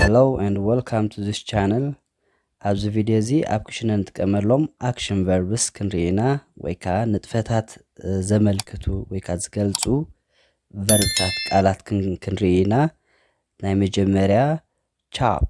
ሄሎ ኤንድ ወልካም ቱ ዚስ ቻነል ኣብዚ ቪድዮ እዚ ኣብ ክሽነ ንጥቀመሎም ኣክሽን ቨርብስ ክንርኢ ኢና ወይ ከዓ ንጥፈታት ዘመልክቱ ወይ ከዓ ዝገልፁ ቨርብታት ቃላት ክንርኢ ኢና ናይ መጀመርያ ቻፕ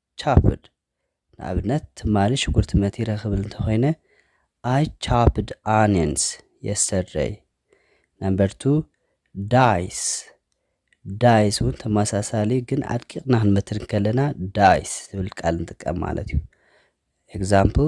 ቻፕድ፣ ንኣብነት ትማሊ ሽጉርቲ መቲረ ክብል እንተኾይነ I chopped onions yesterday። Number two፣ ዳይስ፣ ዳይስ እውን ተመሳሳሊ እዩ፣ ግን ኣድቂቕና ክንመትር እንከለና ዳይስ ዝብል ቃል ንጥቀም ማለት እዩ። Example፣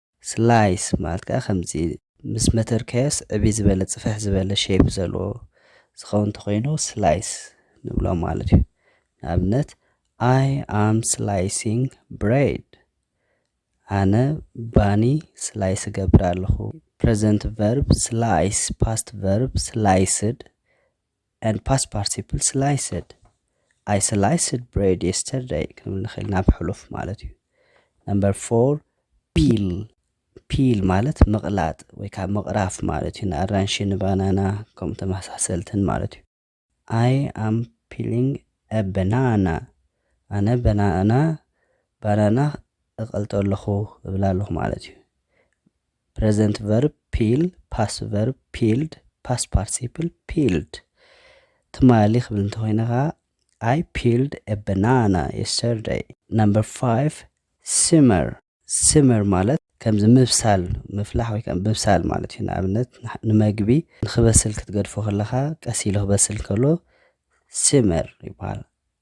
ስላይስ ማለት ከኣ ከምዚ ምስ መተርካዮስ ዕብይ ዝበለ ጽፍሕ ዝበለ ሼፕ ዘለዎ ዝኸውን እንተኾይኑ ስላይስ ንብሎ ማለት እዩ። ንኣብነት I am slicing bread ኣነ ባኒ ስላይስ እገብር ኣለኹ። ፕረዘንት ቨርብ ስላይስ ፓስት ቨርብ ስላይስድ and past participle sliced I sliced bread yesterday ክንብል ንኽእል ናብ ሕሉፍ ማለት እዩ ነምበር ፎር ፒል ፒል ማለት ምቕላጥ ወይ ከዓ ምቕራፍ ማለት እዩ ንኣራንሺ ንባናና ከምኡ ተመሳሰልትን ማለት እዩ ኣይ ኣም ፒሊንግ በናና ኣነ በናና ባናና እቐልጦ ኣለኹ እብላ ኣለኹ ማለት እዩ ፕረዘንት ቨርብ ፒል ፓስ ቨርብ ፒልድ ፓስ ፓርቲሲፕል ፒልድ ትማሊ ክብል እንተኮይነ ከዓ ኣይ ፒልድ ኤ በናና የስተርደይ ነምበር ፋይቭ ሲመር ሲመር ማለት ከምዚ ምብሳል ምፍላሕ ወይ ከዓ ምብሳል ማለት እዩ ንኣብነት ንመግቢ ንክበስል ክትገድፎ ከለካ ቀስ ኢሉ ክበስል ከሎ ሲመር ይበሃል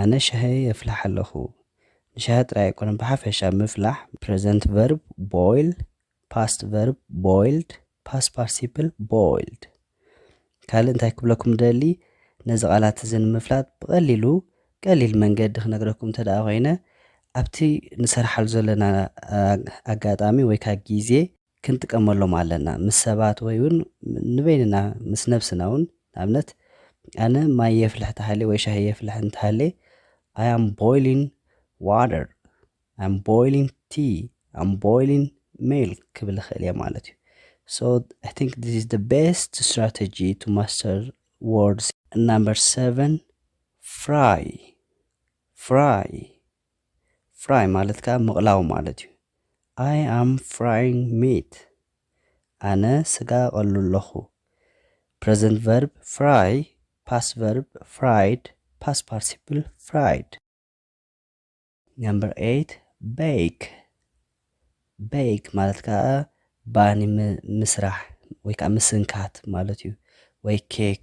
ኣነ ሻሂ የፍልሕ ኣለኹ። ንሻሂ ጥራይ ኣይኮነን ብሓፈሻ ምፍላሕ፣ ፕረዘንት ቨርብ፣ ቦይል፣ ፓስት ቨርብ፣ ቦይልድ፣ ፓስት ፓርቲሲፕል፣ ቦይልድ። ካልእ እንታይ ክብለኩም ደሊ ነዚ ቃላት እዚ ንምፍላጥ ብቐሊሉ ቀሊል መንገዲ ክነግረኩም እንተ ደኣ ኮይነ ኣብቲ ንሰርሓሉ ዘለና ኣጋጣሚ ወይ ከዓ ግዜ ክንጥቀመሎም ኣለና ምስ ሰባት ወይ ውን ንበይንና ምስ ነብስና ውን ንኣብነት ኣነ ማይ የፍልሕ ተሃልየ ወይ ሻሂ የፍልሕ እንተሃልየ ኣይ ኣም ቦይሊን ዋተር ኣም ቦይሊን ቲ ኣም ቦይሊን ሜልክ ክብል ይኽእል እየ ማለት እዩ ሶ ኣይ ቲንክ ዲስ ኢዝ ደ ቤስት ስትራቴጂ ቱ ማስተር ወርድስ ናምበር ሰቨን ፍራይ ፍራይ ፍራይ ማለት ከኣ ምቕላው ማለት እዩ። I am frying meat ኣነ ስጋ እቐሉ ኣለኹ። ፕረዘንት ቨርብ ፍራይ፣ ፓስት ቨርብ ፍራይድ፣ ፓስት ፓርቲሲፕል ፍራይድ። ነምበር ኤይት ቤክ ቤክ ማለት ከኣ ባኒ ምስራሕ ወይ ከዓ ምስንካት ማለት እዩ ወይ ኬክ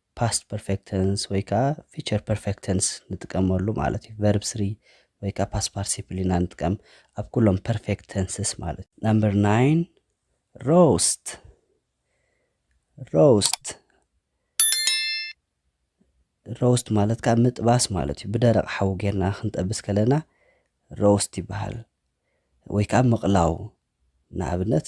ፓስት ፐርፌክት ተንስ ወይ ከኣ ፊቸር ፐርፌክት ተንስ ንጥቀመሉ ማለት እዩ። ቨርብ ስሪ ወይ ከኣ ፓስት ፓርቲሲፕል ኢና ንጥቀም ኣብ ኩሎም ፐርፌክት ተንስስ ማለት እዩ። ናምበር ናይን ሮስት ሮስት ሮስት ማለት ከዓ ምጥባስ ማለት እዩ ብደረቕ ሓዊ ጌርና ክንጠብስ ከለና ሮስት ይበሃል ወይ ከዓ ምቕላው ንኣብነት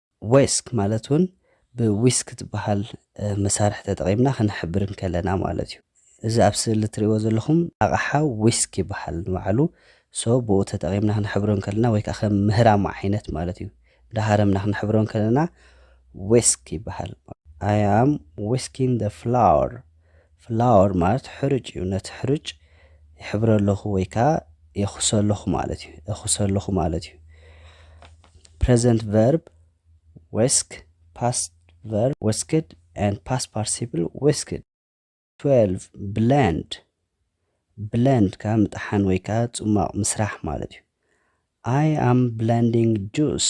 ዌስክ ማለት እውን ብዊስክ ዝበሃል መሳርሒ ተጠቒምና ክንሕብር እንከለና ማለት እዩ። እዚ ኣብ ስእሊ እትርእይዎ ዘለኹም ኣቕሓ ዊስክ ይበሃል ንባዕሉ። so ብኡ ተጠቒምና ክንሕብሮ እንከለና ወይ ከኣ ከም ምህራም ዓይነት ማለት እዩ። እንዳሃረምና ክንሕብሮ እንከለና ዌስክ ይበሃል። I am whisking the flour ፍላወር ማለት ሕሩጭ እዩ ነቲ ሕሩጭ ይሕብረ ኣለኹ ወይ ከኣ የኹሰ ኣለኹ ማለት እዩ እኹሰ ኣለኹ ማለት እዩ ፕሬዘንት ቨርብ ዌስክ ፓስት ቨርብ ወስክድ and past participle ወስክድ 12 ብለንድ ብለንድ ከኣ ምጥሓን ወይ ከኣ ጽሟቕ ምስራሕ ማለት እዩ ኣይ ኣም ብለንዲንግ ጁስ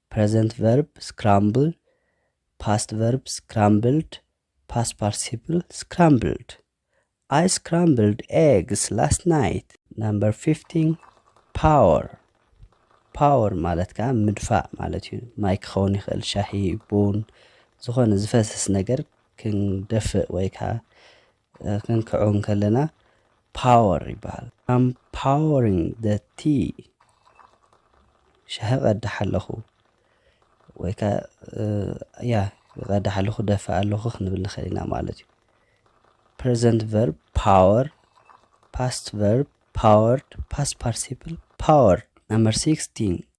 ፕረዘንት ቨርብ ስክራምብል ፓስት ቨርብ ስክራምብልድ ፓስት ፓርቲሲፕል ስክራምብልድ ኣይ ስክራምብልድ ኤግስ ላስት ናይት ናምበር ፊፍቲን ፓወር ፓወር ማለት ከዓ ምድፋእ ማለት እዩ ማይ ክኸውን ይኽእል ሻሂ ቡን ዝኾነ ዝፈስስ ነገር ክንደፍእ ወይ ከዓ ክንክዖ እንከለና ፓወር ይበሃል። ኣም ፓወሪንግ ዘ ቲ ሻሂ ቀዳሕ ኣለኹ ወይ ከ ያ ይቐዳሕ ኣለኹ ደፋእ ኣለኹ ክንብል ንኽእል ኢና ማለት እዩ። ፕሬዘንት ቨርብ ፓወር፣ ፓስት ቨርብ ፓወርድ፣ ፓስት ፓርቲሲፕል ፓወር። ነምበር ሲክስቲን